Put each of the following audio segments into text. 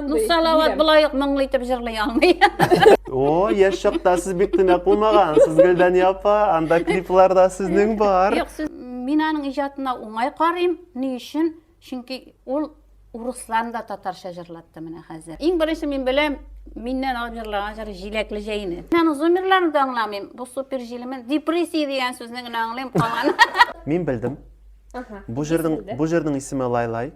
Ну, Салават былай ук моңлы итеп җырлый алмый. О, яшь чакта сез бик төнәк булмагансыз, Гөлдәния апа. Анда клиплар да сезнең бар. Юк, сез мин аның иҗатына уңай карыйм. Ни өчен? Чөнки ул урысларны да татарча җырлатты менә хәзер. Иң беренче мин беләм, миннән алып җырлаган җыры Җиләкле җәйне. Мин аның зумерларын да аңламыйм. Бу супер җилеме? Депрессия дигән сүзне генә аңлыйм, калган. Мин белдем. Бу җырның бу җырның исеме Лайлай.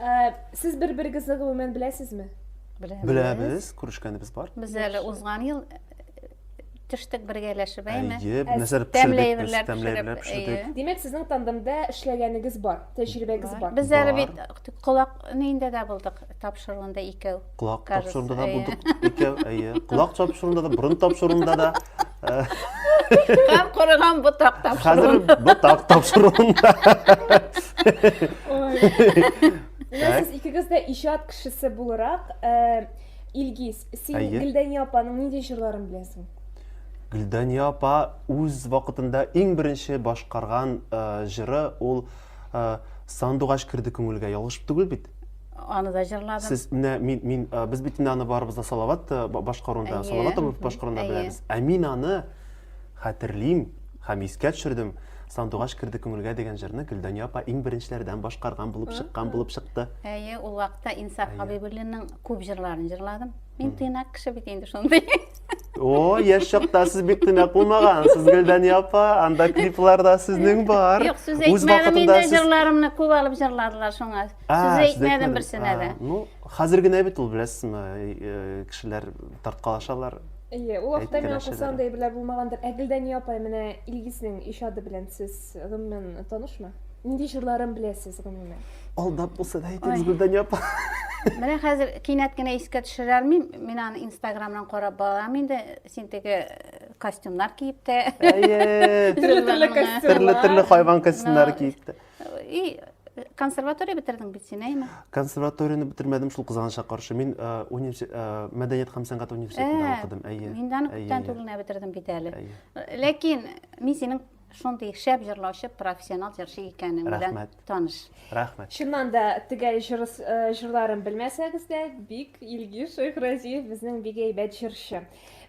Э, сез бер берегезне гомумән беләсезме беләбез күрешкәнебез бар без әле узган ел төштек бергәләшеп әйме тәмләйберләр тәмләйберләр пешердек димәк сезнең тандемда эшләгәнегез бар тәҗрибәгез бар без әле бит колак нинде дә булдык тапшыруында икәү. Колак тапшыруында да булдык икәү, әйе. Колак тапшыруында да, борын тапшыруында да. Һәм корыган ботак тапшыруында. Хәзер ботак тапшыруында. Сез икегез дә иҗат кешесе буларак, э, Илгиз, син Гөлдәния апаның нинди җырларын беләсең? Гөлдәния апа үз вакытында иң беренче башкарган э, җыры ул Сандугач керде күңелгә, ялгыш түгел бит? Аны да җырладым. Сез менә мин мин без бит инде аны барыбыз да Салават башкарында, Салават абый башкарында беләбез. Ә мин аны хәтерлим һәм искә төшердем. Сандугач керде күңелгә дигән җырны Гөлдания апа иң беренчеләрдән башкарган булып чыккан булып чыкты. Әйе, ул вакытта Инсаф Хәбибуллинның күп җырларын җырладым. Мин тыйнак кеше бит инде шундый. О, яшь чакта сез бик тенә кулмагансыз, Гөлдәния апа. Анда клипларда сезнең бар. Юк, сүз Үз әйтмәдем вакытында инде, сез- җырларымны күп алып җырладылар шуңа. А, Сүз сез әйтмәдем әйтмәдегез. берсенә дә. А, Ну, хәзер генә бит ул, беләсезме, э, кешеләр тарткалашалар. Әйе, ул вакытта миңа Әйткәләшәләр. калса андый әйберләр булмагандыр. Ә Гөлдәния апа, менә Илгизнең иҗаты белән сез гомумән танышмы? Нинди җырларын беләсез, гомумән? Алдап булса да әйтегез, Гөлдания апа. Менә хәзер кинәт кенә искә төшерә алмыйм. Мин аны Инстаграмнан карап барам инде. Син теге э, костюмнар киеп тә. Әйе. Төрле-төрле костюмнар. Төрле-төрле хайван костюмнары киеп тә. И консерватория бетердең бит син, әйме? Консерваторияне бетермәдем, шул кызганычка каршы. Мин э, университет, э, мәдәният һәм сәнгать университетында э, укыдым, әйе. Мин даны күптән түгел генә бетердем бит әле. Ләкин мин синең Шундый шәп җырлаучы, профессионал җырчы икәнең белән таныш. Рәхмәт. Чыннан да төгәл э, җырларын белмәсәгез дә, бик Илгиз Шәйхразиев безнең бик әйбәт җырчы.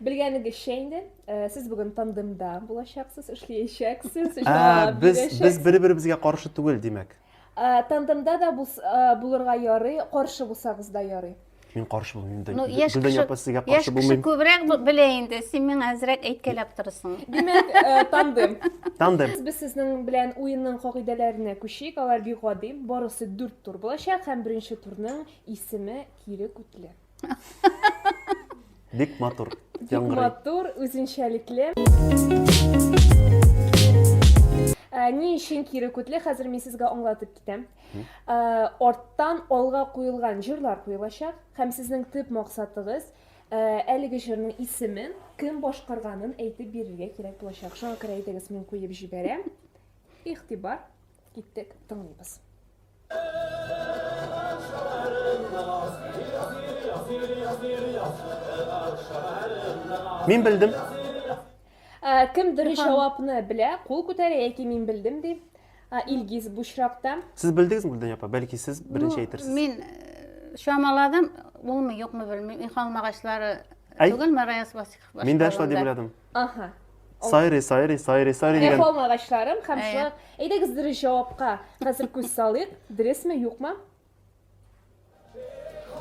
Белгәнегезчә инде, э, сез бүген тандемда булачаксыз, эшләячәксез, ә, җавап Без без бер-беребезгә каршы түгел, димәк. Ә, тандемда да бус, ә, булырга ярый, каршы булсагыз да ярый. Мин каршы булмыйм да. Ну, яшь Гөлдән кеше, апа, сезгә яшь каршы кеше булмыйм. күбрәк б- белә инде. Син миңа әзрәк әйткәләп торасың. Димәк, ә, тандем. Тандем. Без сезнең белән уенның кагыйдәләренә күчик. Алар бик гади. Барысы дүрт тур булачак һәм беренче турның исеме кире күтле. Бик матур. Бик матур, үзенчәлекле. Ә, ни өчен кире күтле? Хәзер мин сезгә аңлатып китәм. Ә, арттан алга куелган җырлар куелачак һәм сезнең төп максатыгыз Э, әлеге җырның исемен кем башкарганын әйтеп бирергә кирәк булачак шуңа күрә әйдәгез мин куеп җибәрәм игътибар киттек тыңлыйбыз Мин белдем. Ә, кем дөрес җавапны белә, кул күтәрә яки мин белдем ди. Ә, Илгиз бу очракта. Сез белдегезме Гөлдән апа? Бәлки сез беренче ну, әйтерсез. Мин э, чамаладым, булмый, юкмы белмим. Ихалмагачлары түгелме Раяз Васихов? Мин дә шулай дип уйладым. Аха. Сайрый, сайрый, сайрый, сайрый дигән. Рәхом агачларым һәм шулай. Әйдәгез дөрес җавапка хәзер күз салыйк. Дөресме, юкмы?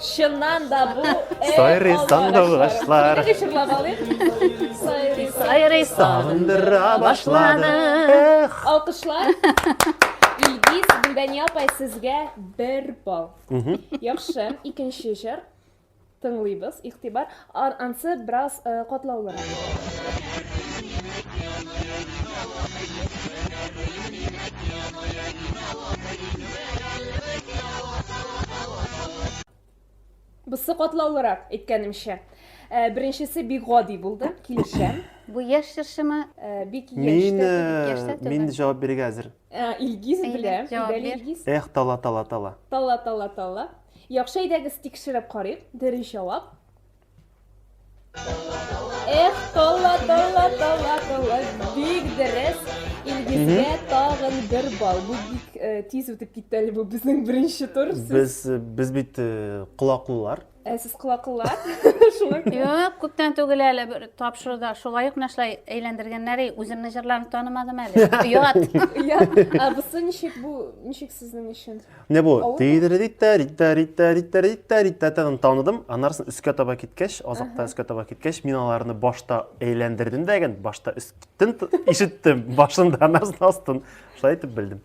Чыннан да бу Сайрый сандыргачлар. Сайрый, сайрый сандыра башлады. Эх. Алкышлар. Илгиз, Гүлдәния апай, сезгә бер балл. Яхшы, икенче җыр. Тыңлыйбыз, игътибар. Ар, ансы бераз катлаулырак. Бысы катлаулырак, әйткәнемчә. Беренчесе бик гади булды, килешәм. Бу яшь җырчымы? Бик яшь тә түгел. Мин җавап бирергә әзер. Ә, Илгиз Әйдә, белә. җавап Идәле бир. Илгиз. Эх, тала, тала, тала. Тала, тала, тала. Яхшы, әйдәгез тикшереп карыйк. Дөрес җавап. Эх, тала, тала, тала, тала. Бик дөрес. Илгизгә тагын бер балл. Бу бик э, тиз үтеп китте әле бу безнең беренче тур. Сез Без, э, без бит э, колаклылар. Ә сез кылакыллар? Шулай. Юк, күптән түгел әле бер тапшыруда шулай ук нәрсә әйләндергәннәр, и, үземне җырларны танымадым әле. Оят. Я, а бусы ничек бу, ничек сезнең өчен? Менә бу Авыр тидеридитта, ритта, ритта, ритта, ритта, ритта тагын таныдым. Аннарсын өскә таба киткәч, азакта өскә таба киткәч, мин аларны башта әйләндердем дә ген, башта өстен т- ишеттем, башында аннарсын астын. Шулай итеп белдем.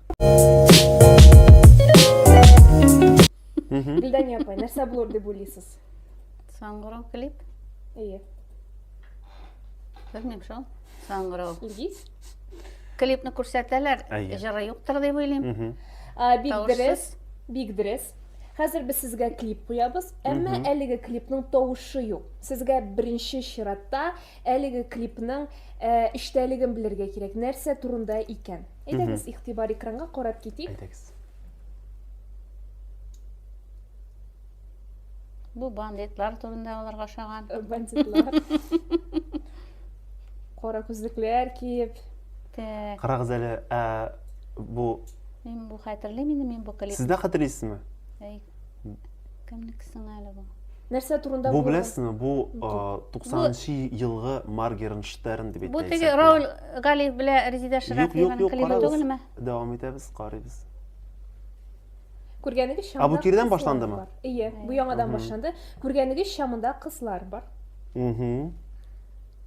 Гөлдәния апай, нәрсә булыр дип уйлыйсыз? Саңгырау клип? Әйе. Белмим шул. Саңгырау. Илгиз? Клипны күрсәтәләр, җыры юктыр дип уйлыйм. Бик дөрес, бик дөрес. Хәзер без сезгә клип куябыз, әмма әлеге клипның тавышы юк. Сезгә беренче чиратта Әлеге клипның ә, эчтәлеген белергә кирәк. Нәрсә турында икән? Әйдәгез, игътибар экранга карап китик. Әйдәгез. Бу бандитлар турында аларга ошаган. Э, бандитлар. Кара күзлекләр киеп. Так. Карагыз әле, ә, бу Мин бу хәтерлим инде, мин бу клип. Сез дә хәтерлисезме? Әй, кемнекесең әле бу нәрсә турында бу беләсеңме бу туксанынчы елгы маргернштерн дип бу теге рауль галиев белән резидә ширәкиеваның клибы түгелме дәвам итәбез карыйбыз күргәнегезчә а бу кирдән башландымы ие бу яңадан башланды күргәнегезчә монда кызлар бар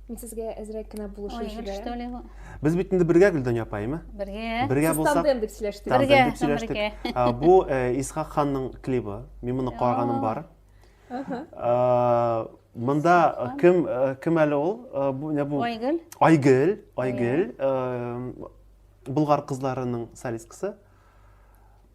Мин сезгә әзрәк кенә булышу Ой, җибәрәм. что ли бу? Без бит инде бергә Гөлдания апа, әйме? Бергә. Бергә Сез булсак, тандем дип сөйләштегез. тандем Бергә, дип сөйләштек. бергә. А, Бу э, Исхак ханның клибы. Мин моны караганым бар. А, Монда кем э, кем әле ул? Э, Бу не бу? Айгөл. Айгөл, Айгөл, э, Болгар кызларының солисткасы.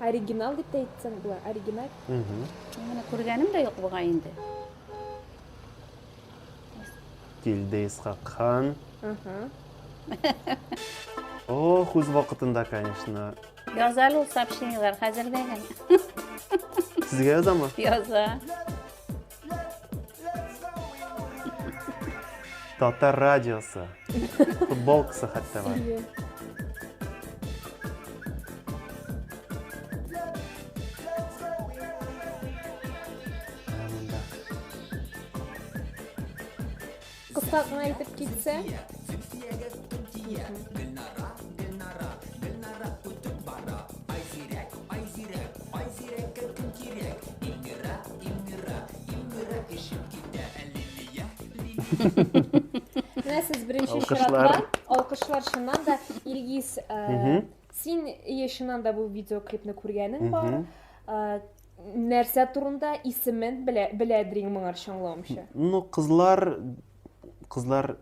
Оригинал дип тә әйтсәң була, оригиналь. Мин моны күргәнем дә юк бугай инде. Килде Исхак хан. О, үз вакытында, конечно. Яз әле ул сообщениелар хәзер дә генә. Сезгә язамы? Яза. Татар радиосы. Футболкасы хәтта бар. Кыска гына итеп китсә. Менә сез беренче чиратта алкышлар чыннан да Илгиз, син ие чыннан да бу видеоклипны күргәнең бар. нәрсә турында исемен белә, беләдер иң моңарчы аңлавымча. Ну, кызлар, кызлар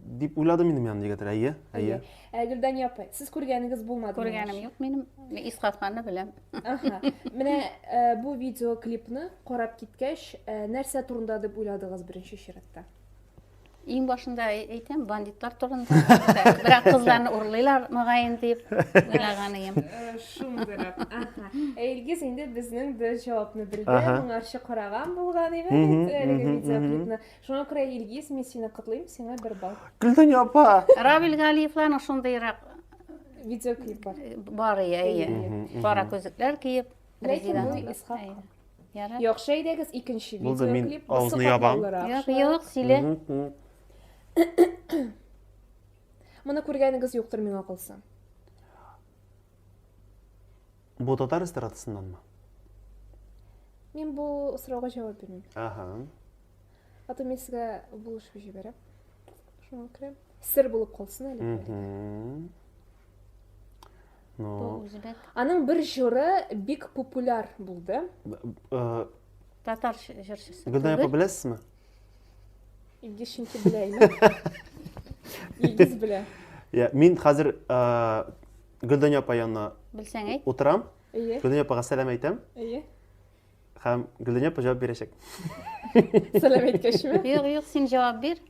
дип уйладым инде мин аны егетләр, әйе, әйе. Ә Гөлдания апай, сез күргәнегез булмады? Күргәнем юк минем, Исхакны беләм. Аха. Менә э, бу видеоклипны карап киткәч, э, нәрсә турында дип уйладыгыз беренче чиратта? Иң башында әйтәм, бандитлар турында. Бирәк кызларны урлыйлар мөгаен дип уйлаган идем. Э, Шундыйрак. Аха. Э, Илгиз инде безнең бер җавапны белде. Аха. Моңарчы караган булган иде Мгм, бит э, әлеге мгм, видеоклипны. Шуңа күрә Илгиз, мин сине котлыйм, сиңа бер балл. Гөлдәния апа. Равил Галиевларның шундыйрак Видеоклип бар. э, бар ия, ия. Мгм, мгм. Кара күзлекләр киеп, Ләкин Резеда. бу Исхак. Әйе. Ярар. Яхшы әйдәгез икенче Булды, мин видеоклип. Бусы авызны ябам. катлаулырак. Юк, Шулай юк, сөйлә. Мгм, мгм. Моны күргәнегез юктыр миңа калса. Бу татар эстрадасыннанмы? Мин бу сорауга җавап бирмим. Ага. Аты мин сезгә булышып җибәрәм. Шуңа күрә сер булып калсын әле. бу әле. Мгм. Ну, Бу үзбәк. Аның бер җыры бик популяр булды. э, Татар ш- җырчысы. Гөлнай апа түгел. беләсезме? Илгиз чөнки белә инде. Илгиз белә. Я, мин хәзер э, Гөлдәня апа янына Белсәң әйт. утырам, Әйе, Гөлдәня апага сәлам әйтәм әйе. һәм Гөлдәня апа җавап бирәчәк. Сәлам әйткәчме? Юк, юк, син җавап бир.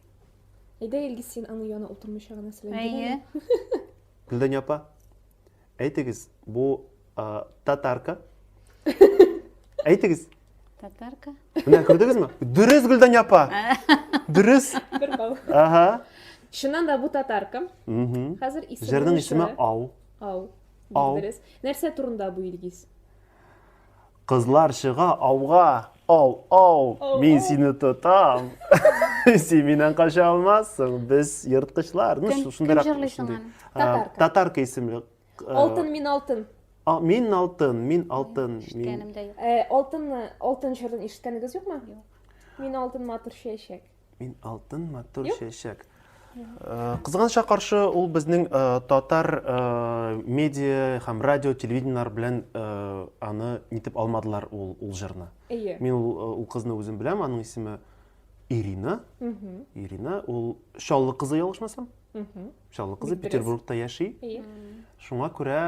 Әйдә Илгиз син аның янына утырмыйча гына сәлам бир әле. Әйе. Гөлдәня апа, әйтегез, бу а, татарка. Әйтегез. Татарка. Менә күрдегезме? Дөрес Гөлдәня апа. Дөрес. Бер бал. Ага. Чыннан да бу татарка. Мгм. Хәзер исеме. Җырның исеме Ау. Ау. Ау. Дөрес. Нәрсә турында бу Илгиз? Кызлар чыга ауга, ау, ау, мин сине тотам. Син миннән кача алмассың, без ерткычлар. Ну, Кем- шундыйрак- кем җырлый соң шундый. аны? А, Татарка. Татарка исемле. Э, Алтын мин алтын. а, Мин алтын, мин алтын. мин- Ишеткәнем дә юк. Э, Алтын алтын җырын ишеткәнегез юкмы? Мин алтын матур чәчәк. Мин алтын матур чәчәк. Э, Кызганычка каршы ул безнең э, татар э, медиа һәм радио телевидениеләр белән аны нитеп алмадылар ул ул җырны. Мин ул ул кызны үзем беләм, аның исеме Ирина. Ирина ул Чаллы кызы ялгышмасам. Чаллы кызы Петербургта яши. Шуңа күрә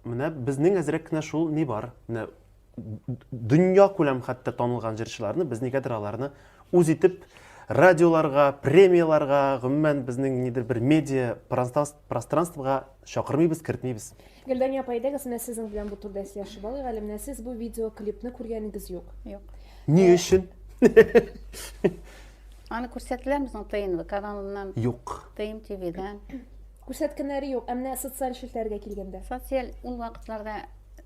менә безнең әзрәк кенә шул ни бар. Менә дөнья күләм хәтта танылган җырчыларны без нигәдер аларны үз итеп радиоларга премияларга гомумән безнең нидер бер медиа пространствога чакырмыйбыз кертмибез гөлдания апа әйдәгез менә сезнең белән бу турыда сөйләшеп алыйк әле менә сез бу видеоклипны күргәнегез юк юк ни э, өчен аны күрсәтелә безнең тнв каналыннан юк тм твдан Күрсәткәннәре юк, ә менә социаль челтәргә килгәндә. Социаль ул вакытларда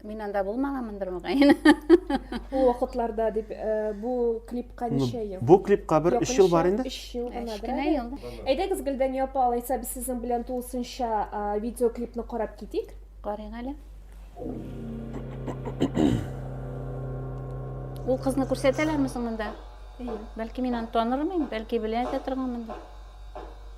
мин анда булмаганмындыр мөгаен. Ул вакытларда дип э, бу клипка Ну, ничә ел? Бу клипка бер өч ел бар инде. Өч ел гына бер Кечкенә әле. ел. Әйдәгез, Гөлдәния апа, алайса без сезнең белән тулысынча а, видеоклипны карап китик. Карыйк әле. Ул кызны күрсәтәләрме соң монда? Бәлки мин аны танырмын, бәлки белә дә торганмындыр.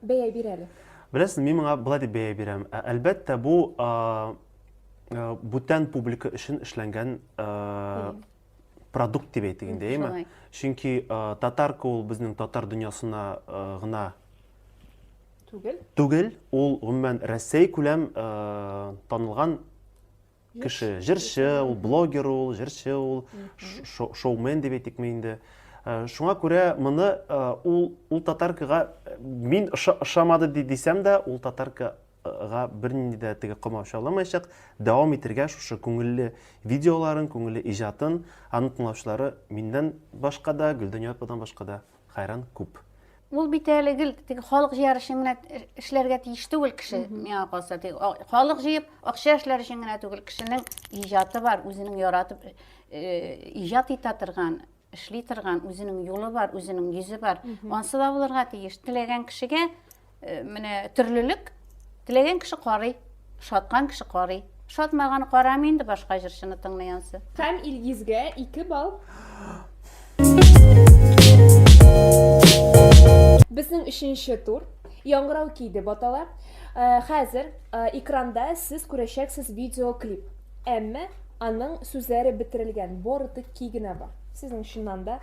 Бәя бир әле. Беләсең, мин моңа болай дип бәя бирәм. Ә, әлбәттә, бу а, а, бүтән публика өчен эшләнгән а, продукт дип әйтик инде, әйме? Чөнки а, татарка ул безнең татар дөньясына а, гына түгел. Түгел, ул гомумән Россия күләм а, танылган кеше җырчы ул блогер ул җырчы ул шоумен дип әйтикме инде э, шуңа күрә моны э, ул ул татаркага э, мин ошамады дисәм дә ул татаркага бернинди дә теге комау чаламаячак дәвам итергә шушы күңелле видеоларын күңелле иҗатын аны тыңлаучылары миннән башка да гөлдәния ападан башка да Хәйран күп. Ул бит әле гел теге халык җыяр өчен генә эшләргә тиеш түгел кеше. Миңа калса, теге халык җыеп, акча эшләр өчен генә түгел, кешенең иҗаты бар, үзенең яратып иҗат итә торган, эшли торган, үзенең юлы бар, үзенең йөзе бар. Ансы да булырга тиеш. Теләгән кешегә Э, менә төрлелек теләгән кеше карый шаткан кеше карый шатмаган карамый инде башка җырчыны тыңлаянсы һәм илгизгә ике балл безнең өченче тур яңгырау киде батала э, хәзер э, экранда сез күрәчәксез видеоклип әмма аның сүзләре бетерелгән борытык ки генә бар сезнең чыннан да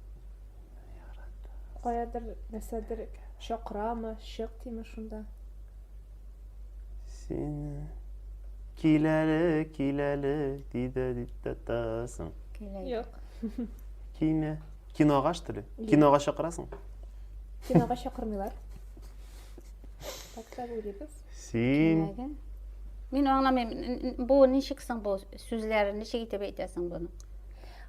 Каядыр, нәрсәдер чакырамы, чык диме шунда. Сине киләле, киләле, диде, диде тасың. Юк. Киме? Кинога что ли? Кинога чакырасың? Кинога чакырмыйлар. Так та уйлыйбыз. Син Киләген. Мин аңламыйм, н- н- бу ничек соң бу сүзләр, ничек итеп әйтәсең буны?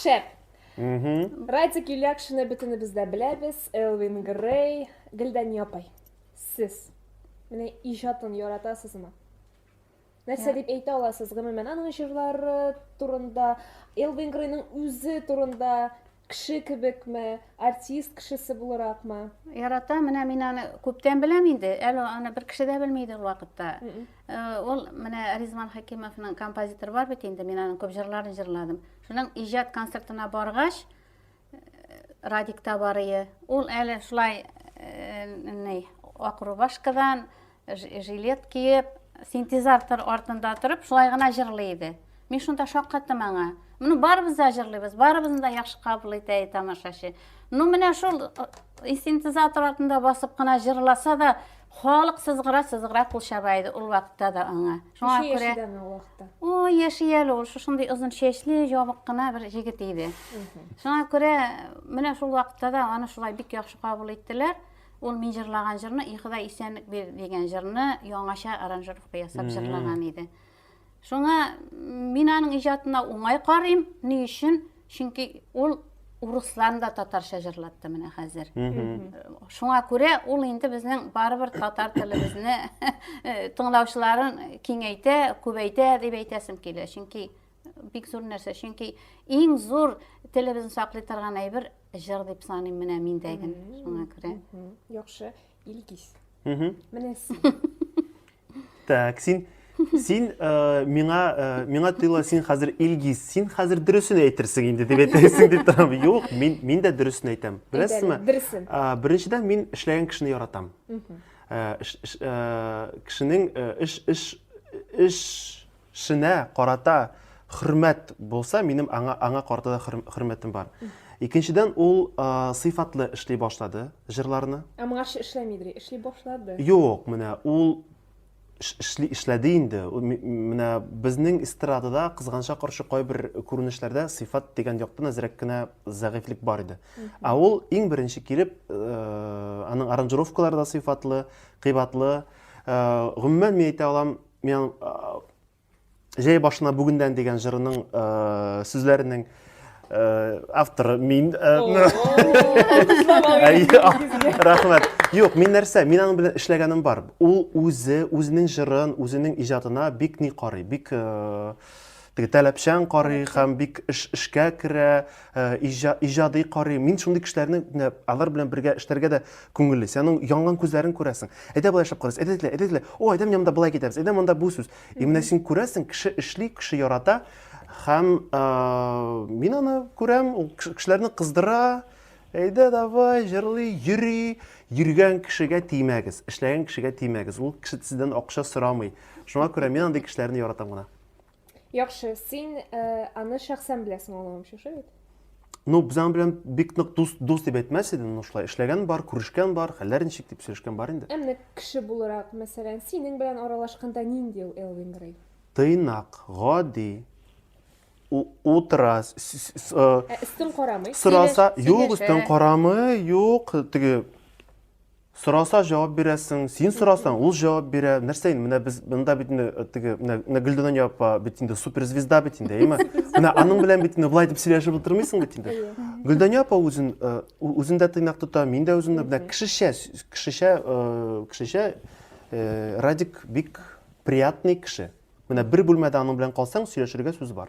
Шәп. Радик Юлякшины бөтенебез дә беләбез. Элвин Грей, Гөлдәния апай. Сез менә иҗатын яратасызмы? нәрсә дип әйтә аласыз гомумән аның җырлары турында элвин грейның үзе турында Кеше кебекме, артист кешесе булыракмы? Ярата, менә мин аны күптән беләм инде. Әле аны бер кеше дә белми иде ул вакытта. Ул э, менә Ризман Хәкимовның композитор бар бит инде, мин аның күп җырларын җырладым. Шуның иҗат концертына баргач, э, Радик Табарые, ул әле шулай э, ни, Акрубашкадан жилет киеп синтезатор артында торып шулай гына җырлый иде мин шунда шаккаттым аңа моны барыбыз да җырлыйбыз барыбызны да яхшы кабул итә тамашачы ну менә шул э, синтезатор артында басып кына җырласа да халык сызгыра сызгыра кул чаба иде ул вакытта да аңа шуңа күрә о яши әле ул шушындый озын чәчле ябык кына бер егет иде шуңа күрә менә шул вакытта да аны шулай бик яхшы кабул иттеләр Ул мин җырлаган җырны И Ходай исәнлек бир дигән җырны яңача аранжировка ясап җырлаган иде. Шуңа мин аның иҗатына уңай карыйм. Ни өчен? Чөнки ул урысларны да татарча җырлатты менә хәзер. Шуңа күрә ул инде безнең барыбер татар телебезне тыңлаучыларын киңәйтә, күбәйтә дип әйтәсем килә. Чөнки Бик зур нәрсә, чөнки иң зур телебезне саклый торган әйбер җыр дип саныйм менә миндәген. Шуңа күрә. Яхшы, Илгиз. Менә син. Так, син син э, миңа э, миңа тоела син хәзер Илгиз, син хәзер дөресен әйтерсең инде дип әйтәсең дип торам. Юк, мин мин дә дөресен әйтәм. Беләсезме? Дөресен. Э, беренчедән мин эшләгән кешене яратам. Э, э, кешенең э, эш эш эш шенә карата хөрмәт булса, минем аңа, аңа карата да хөрмәтем бар. Икенчедән, ул ә, сыйфатлы эшли башлады җырларны. Ә моңарчы эшләмидер, эшли башлады. Юк, менә ул эшли, эшләде инде. Менә безнең эстрадада кызганча каршы кайбер күренешләрдә сыйфат дигән яктан әзрәк кенә зәгыйфьлек бар иде. Ә ул иң беренче килеп, ә, аның аранжировкалары да сыйфатлы, кыйбатлы. Ә, гомумән, мин әйтә алам, Мен Җәй башына бүгендән дигән җырының сүзләренең авторы мин. Рәхмәт. Юк, мин нәрсә? Мин аның белән эшләгәнем бар. Ул үзе, үзенең җырын, үзенең иҗатына бик ни карый, бик Теге таләпчән карый һәм бик эш эшкә керә, иҗади карый. Мин шундый кешеләрне менә алар белән бергә эшләргә дә күңелле. Син аның янган күзләрен күрәсең. Әйдә болай эшләп карыйс, әйдә дилә, әйдә дилә. О, әйдә менә монда болай китәбез, әйдә монда бу сүз. И менә син күрәсең, кеше эшли, кеше ярата. Һәм мин аны күрәм, ул кешеләрне кыздыра. Әйдә давай, җырлый, йөри. Йөргән кешегә тимәгез, эшләгән кешегә тимәгез. Ул кеше сездән акча сорамый. Шуңа күрә мин андый кешеләрне яратам гына. Яхшы, син э, аны шәхсән беләсең аңламам шушы бит. Ну, без аның белән бик нык дус, дус дип әйтмәс идем, ну шулай эшләгән бар, күрешкән бар, хәлләр ничек дип сөйләшкән бар инде. Ә менә кеше буларак, мәсәлән, синең белән аралашканда нинди ул Элвин Грей? Тыйнак, гади, у- утыра, с- с- с- э, Ә өстен карамый. сораса, Сөйләш- юк, сөйләшә. өстен карамый, юк, теге Сораса җавап бирәсең, син сорасаң, ул җавап бирә. Нәрсә инде, менә без монда бит инде э, теге менә менә Гөлдәнән япа бит инде суперзвезда бит инде, әйме? Менә аның белән бит инде былай дип сөйләшеп утырмыйсың бит инде. Гөлдәнә апа үзен э, ү- үзен дә тыйнак тота, мин дә үземне менә кешечә с- кешечә э, кешечә э, Радик бик приятный кеше. Менә бер бүлмәдә аның белән калсаң, сөйләшергә сүз бар.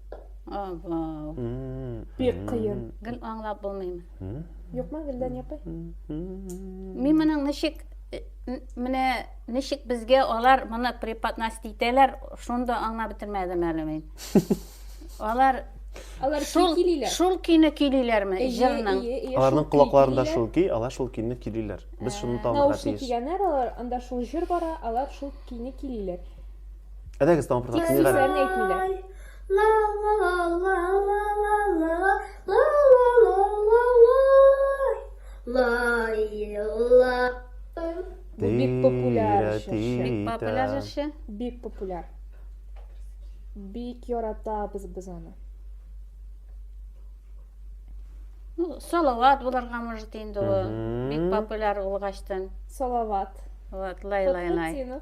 Ава. Бик кыен. Гел аңлап булмыймы? Юкмы, Гөлдән япый? Мин моның ничек менә ничек безгә алар моны преподносить итәләр, шунда аңлап бетермәдем әле мин. Алар Алар шул килиләр. Шул көйне көйлиләрме җырның? Аларның колакларында шул көй, алар шул көйне көйлиләр. Без шуны табарга тиеш. Наушник кигәннәр, алар анда шул җыр бара, алар шул көйне көйлиләр. Әдәгез тагын бер тапкыр. Сүзләрен әйтмиләр. Бу бик популяр җырчы. Бик популяр җырчы. Бик популяр. Бик яратабыз без аны. Ну, салават буларга может инде ул. Бик популяр улгачтан. Салават. Вот, лай лай лай.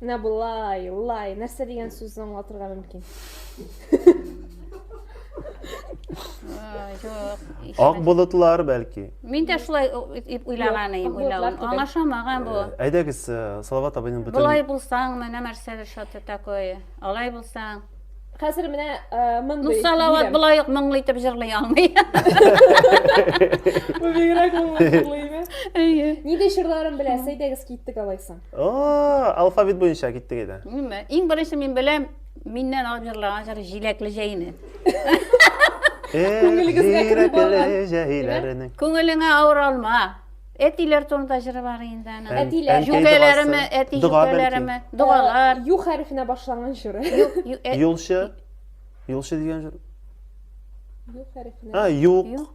Менә болай, лай, нәрсә дигән сүзне аңлатырга мөмкин? Ак болытлар бәлки. Мин дә шулай уйлаган идем, уйлаган. Аңа шамаган бу. Әйдәгез, Салават абыйның бөтен Болай булсаң, менә нәрсә шаты такое. Алай булсаң. Хәзер менә мондый. Ну Салават болай ук моңлы итеп җырлый алмый. Бу бигрәк моңлы җырлый. Әйе. Нинди җырларын беләсез? Әйдәгез киттек алайсаң. О, алфавит буенча киттек иде. Ниме? Иң беренче мин беләм, миннән алып җырлаган җыр Җиләкле җәйне. Күңелегезгә кереп барган. Җиләкле җәйләрне. Күңелеңә авыр алма. Әтиләр турында җыры бар инде аның. Ән- Әтиләр. әнкәй Җүкәләреме, догасы. әти Дога бәлки. җүкәләреме, догалар. Ю хәрефенә башланган җыры. Ю- ю- э, ә- Юлчы. Юлчы дигән җыр. Ю хәрефенә. А, юк. Юк.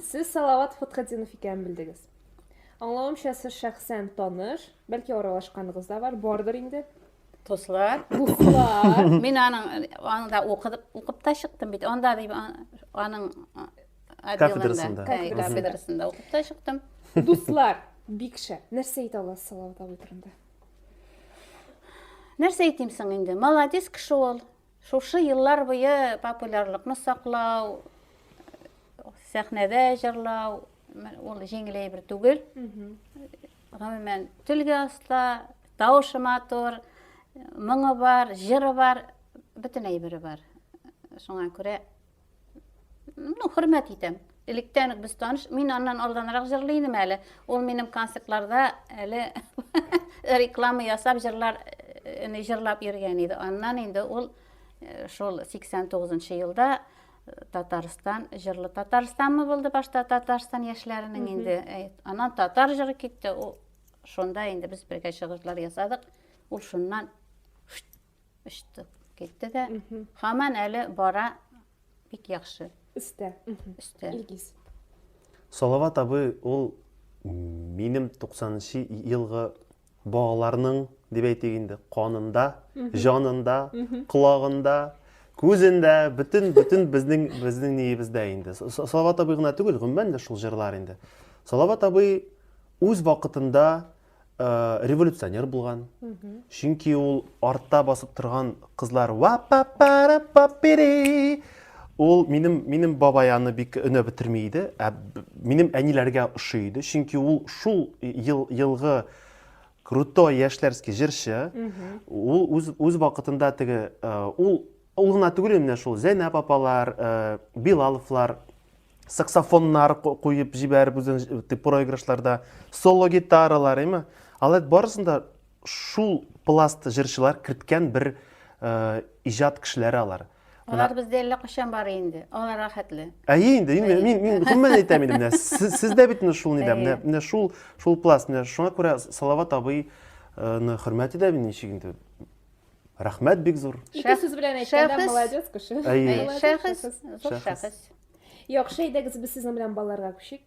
Сез Салават Фатхетдинов икәнен белдегез. Аңлавымча, сез шәхсән таныш, бәлки аралашканыгыз да бар, бардыр инде. Дуслар. Дуслар. Мин аның анда укып укып та чыктым бит. Анда дип аның кафедрасында. Кафедрасында укып та чыктым. Дуслар, бик шәп. Нәрсә әйтә аласыз Салават абый турында? Нәрсә әйтим соң инде? Молодец кеше ул. Шушы еллар буе популярлыкны саклау, сәхнәдә җырлау, ул җиңел әйбер түгел. Гомумән, телгә оста, тавышы матур, моңы бар, җыры бар, бөтен әйбере бар. Шуңа күрә Ну, хөрмәт итәм. Электән үк без таныш. Мин аннан алданрак җырлый идем әле. Ул минем концертларда әле реклама ясап җырлар э, җырлап йөргән иде. Аннан инде ул э, шул 89 елда э, Татарстан җырлы Татарстанмы булды башта Татарстан яшьләренең инде. Аннан татар җыры китте. Ул шунда инде без бергә чыгышлар ясадык. Ул шуннан Очты, китте дә. Хаман әле бара бик яхшы. Өстә. Өстә. Илгиз. Салават абый ул минем 90-нчы елгы балаларның дип әйтик инде канында, җанында, колагында, күзендә, бөтен бөтен безнең безнең ниебездә инде. Салават абый гына түгел, гомумән дә шул җырлар инде. Салават абый үз вакытында революционер булган чөнки ул артта басып торган кызлар ул минем минем бабай аны бик өнә бетерми иде ә минем әниләргә ошый иде чөнки ул шул ел елгы крутой яшьләрский җырчы ул үз үз вакытында теге ул ул гына түгел менә шул зәйнәп апалар билаловлар саксофоннар куеп җибәреп үзен проигрышларда соло гитаралар эме алар барысында шул пласт җырчылар керткән бер э, иҗат кешеләре алар алар бездә әллә кайчан бар инде алар рәхәтле әйе инде мин мин мин гомумән әйтәм инде менә сез дә бит менә шул нидә менә менә шул шул пласт менә шуңа күрә салават абыйны хөрмәт итәм ничек инде Рәхмәт бик зур. Ике сүз белән әйткәндә молодец кеше. Шәхес. Шәхес. Яхшы әйдәгез без сезнең белән балларга күчик.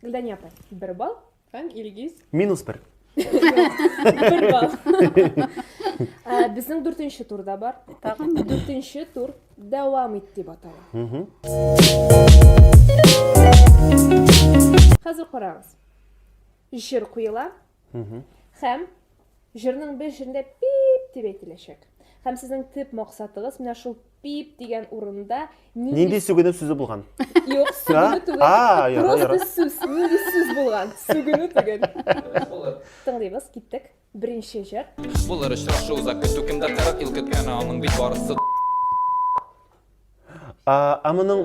Гөлдәния апай, бер балл һәм Илгиз. Минус бер. Бер балл. Ә, Безнең дүртенче турда бар. Тагын Дүртенче тур дәвам ит дип атала. Мгм. Хәзер карагыз. Җыр куела, Хәм җырның бер җирендә пип дип әйтеләчәк. Хәм сезнең төп максатыгыз менә шул пип дигән урында нинди Нинди сүгенеп сүзе булган? Юк, сүгенү түгел. А, яра, Просто яра. сүз, нинди сүз булган? Сүгенү түгел. Тыңлыйбыз, киттек. Беренче җыр. Булыр очрашу уза көтү кемдә 40 ел көткәне аның бит барысы А, а моның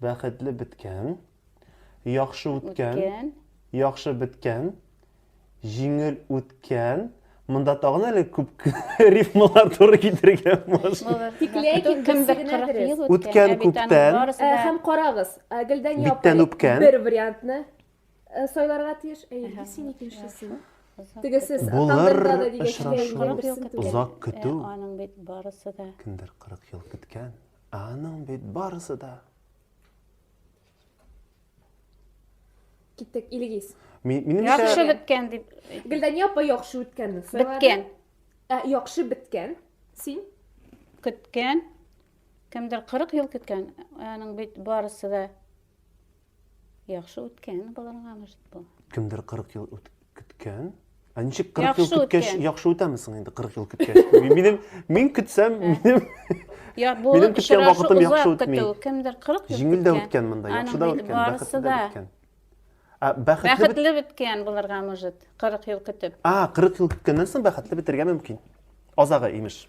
Бәхетле беткән. Яхшы үткән. Үткән. Яхшы беткән. Җиңел үткән. Монда тагын әле күп рифмалар туры китерергә мөмкин. Тик ләкин кемдер 40 ел үткән. Күптән. Һәм карагыз, Гөлдән япа бер вариантны сайларга тиеш. Әйе, син икенчесен. Тегесе тандырда да дигән. Озак көтү. Аның бит барысы да. Кемдер 40 ел көткән. Ә аның бит барысы да. Киттек, Илгиз. Ми- Минемчә, Яхшы беткән дип. Гөлдәния апа яхшы үткәнне сайлады. Беткән. Ә, яхшы беткән. Син? Көткән. Кемдер 40 ел көткән. Аның бит барысы да Яхшы үткән боларга может бу. Кемдер 40 ел үт көткән. Ә ничек 40 ел көткәч яхшы үтәме соң инде 40 ел көткәч? Минем мин көтсәм, минем Я бу Минем көткән вакытым яхшы үтми. Кемдер 40 ел. Җиңел дә үткән монда, яхшы да үткән, бәхетле дә үткән. Ә бәхетле бәхетле беткән булырга может 40 ел көтеп. А, 40 ел көткәннән соң бәхетле бетергә мөмкин. Азагы, имеш.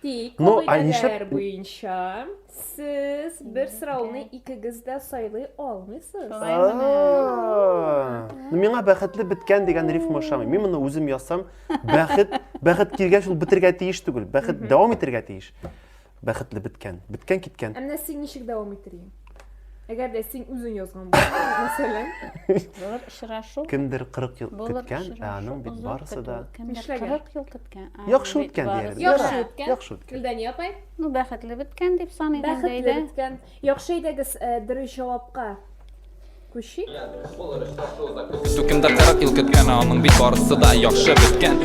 Тик ну, кагыйдәләр буенча сез бер сорауны икегез дә сайлый алмыйсыз. Ну, миңа бәхетле беткән дигән рифма ошамый. Мин моны үзем ясам. Бәхет, бәхет килгәч ул бетергә тиеш түгел. Бәхет дәвам итергә тиеш. Бәхетле беткән. Беткән киткән. Ә менә син ничек дәвам итер идең? Әгәр дә син үзең язган булсаң, мәсәлән. Булыр очрашу. Кемдер 40 ел көткән, ә аның бит барысы да Нишләгән? 40 ел көткән. Яхшы үткән диярбез. Яхшы үткән. Яхшы үткән. Гөлдания апай? Ну, бәхетле беткән дип саныйм инде. Бәхетле беткән. Яхшы әйдәгез, э, дөрес җавапка күчик. Кемдер 40 ел көткән, ә аның бит барысы да яхшы беткән.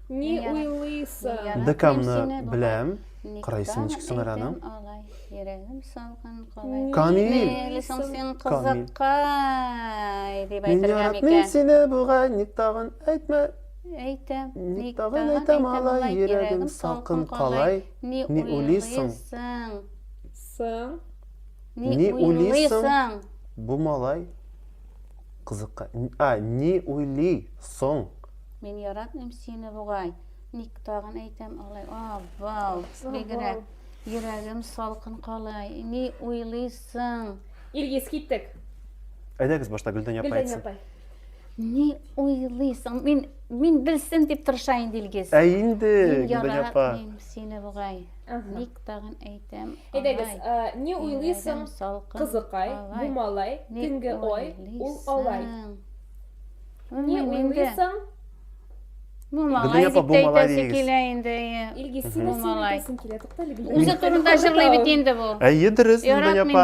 Ни уйлыйсың? Декамны беләм. Кырайсын ничек сыңар аның? Йөрәгем салган калай. Камил. Мели соң син кызыккай дип әйтергә микән? Мин яратмыйм сине бугай, ник тагын әйтмә. Әйтәм. Ник тагын әйтәм алай, йөрәгем салкын калай. Ни уйлыйсың? Сың. Ни уйлыйсың? Бу малай. Кызыкка. А, ни уйли соң? Мин яратмыйм сине бугай. Ник тагын әйтәм алай? А, вау, бигрәк. Йөрәгем салкын калай. Ни уйлыйсың? Илгиз, киттек. Әйдәгез башта Гөлдән япа әйтсен. Гөлдән япа. Ни уйлыйсың? Мин мин белсен дип тырыша инде Илгиз. Ә инде Гөлдән япа. Мин яратмыйм сине бугай. Ник тагын әйтәм? Әйдәгез, не уйлыйсың, кызыкай, бу малай, төнге ой, ул алай. Не уйлыйсың, Бу малай дип әйтәсе килә инде. Илгиз, сине син әйтәсең килә, туктале. Үзе турында җырлый бит инде бу. Әйе, дөрес, Гөлия апа.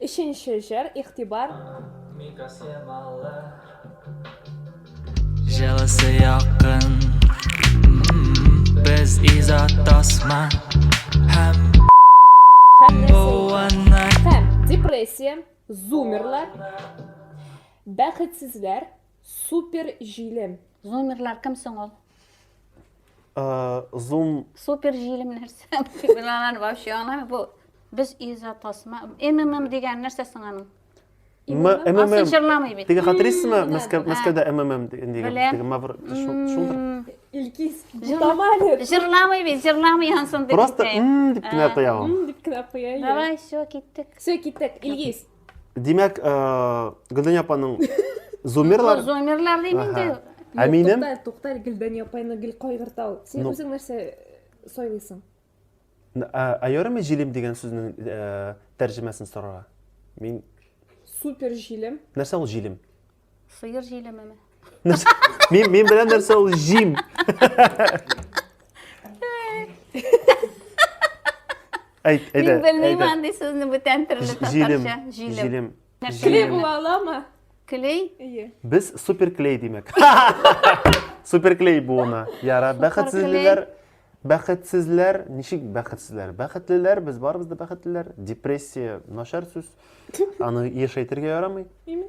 Өченче җыр, игътибар. Җылысы якын Без изат тасма Һәм Һәм депрессия, зумерлар, бәхетсезләр, Супер җилем. Зумерлар кем соң ул? Э, зум... Супер җилем нәрсә? Булалар вообще аңламый. Бу без иза тасма. МММ дигән нәрсә соң аның? МММ. Асынчырламый бит. Теге хатырыйсызмы? Мәскәүдә МММ дигән. Теге мавр шулдыр. Илкис, бутамали. Җырламый бит, җырламый янсын дип. Просто м дип кенә куя ул. М дип кенә куя. Давай, все, киттек. Все, киттек. Илгиз, Димәк, Гөлдәния апаның зумерлар. Зумерлар дим инде. Ә минем? Тукта, тукта, Гөлдәния апаны гел кайгырта ул. Син үзең нәрсә сайлыйсың? Ә ярыме җилем дигән сүзнең тәрҗемәсен сорарга? Мин супер җилем. Нәрсә ул җилем? Сыер җилемеме? Мин мин белән нәрсә ул җим. Әйт, әйдә. Мин белмим андый сүзне бүтән төрле татарча. Җилем. Җилем. Клей була аламы? Клей? Ие. Без суперклей димәк. Суперклей буына. Яра, бәхетсезләр. Бәхетсезләр, ничек бәхетсезләр? Бәхетлеләр, без барыбыз да бәхетлеләр. Депрессия начар сүз. Аны еш әйтергә ярамый. Именно.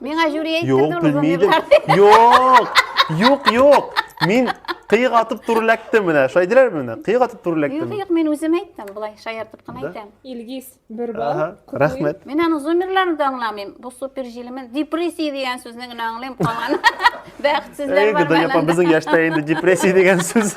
Миңа жюри әйттерде Юк, ул белмидем. гомерләрне. Юк, юк, юк. Мин кыйык атып түрләктем менә. Шулай диләр менә. Кыйык атып Юк, түрләктем. юк, мин үзем әйттем, былай шаяртып кына Да? әйтәм. Илгиз, бер балл. Аһа, Котлыйм. рәхмәт. Мин аның зумерларын да аңламыйм. Бу супер җилемен. Депрессия дигән сүзне генә аңлыйм, калган бәхетсезләр Әй, бар Гүдәй апа, мәнәдә. безнең яшьтә инде депрессия дигән сүз.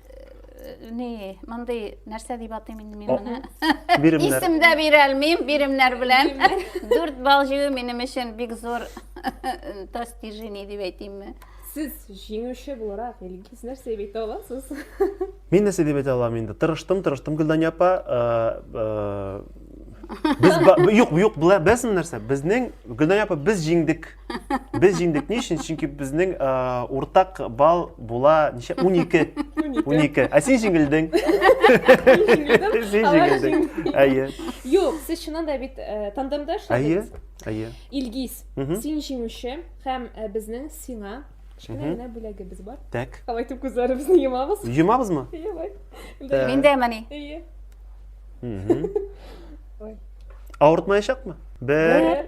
не мындай нәрсә дип атыйм инде мин моны биремнәр исем дә бирә алмыйм биремнәр белән дүрт балл җыю минем өчен бик зур достижение дип әйтимме сез җиңүче буларак илгиз нәрсә дип әйтә аласыз мин нәрсә дип әйтә алам инде тырыштым тырыштым гөлдания апа без юк юк беләсең нәрсә безнең гөлдания апа без җиңдек Без җиңдек ни өчен? Чөнки безнең э, уртак балл була ничә? 12. 12. Ә син җиңелдең. Син җиңелдең. Әйе. Юк, сез чыннан да бит э, тандемда Әйе. эшләдегез. Әйе. Илгиз, Мгм. син җиңүче һәм э, безнең сиңа кечкенә Мгм. генә бүләгебез бар. Так. Алай итеп күзләребезне йомабыз. Йомабызмы? Әйе, бай. Так. Мин дә мени. Әйе. Мгм. Ой. Авыртмаячакмы? Бер, Бер,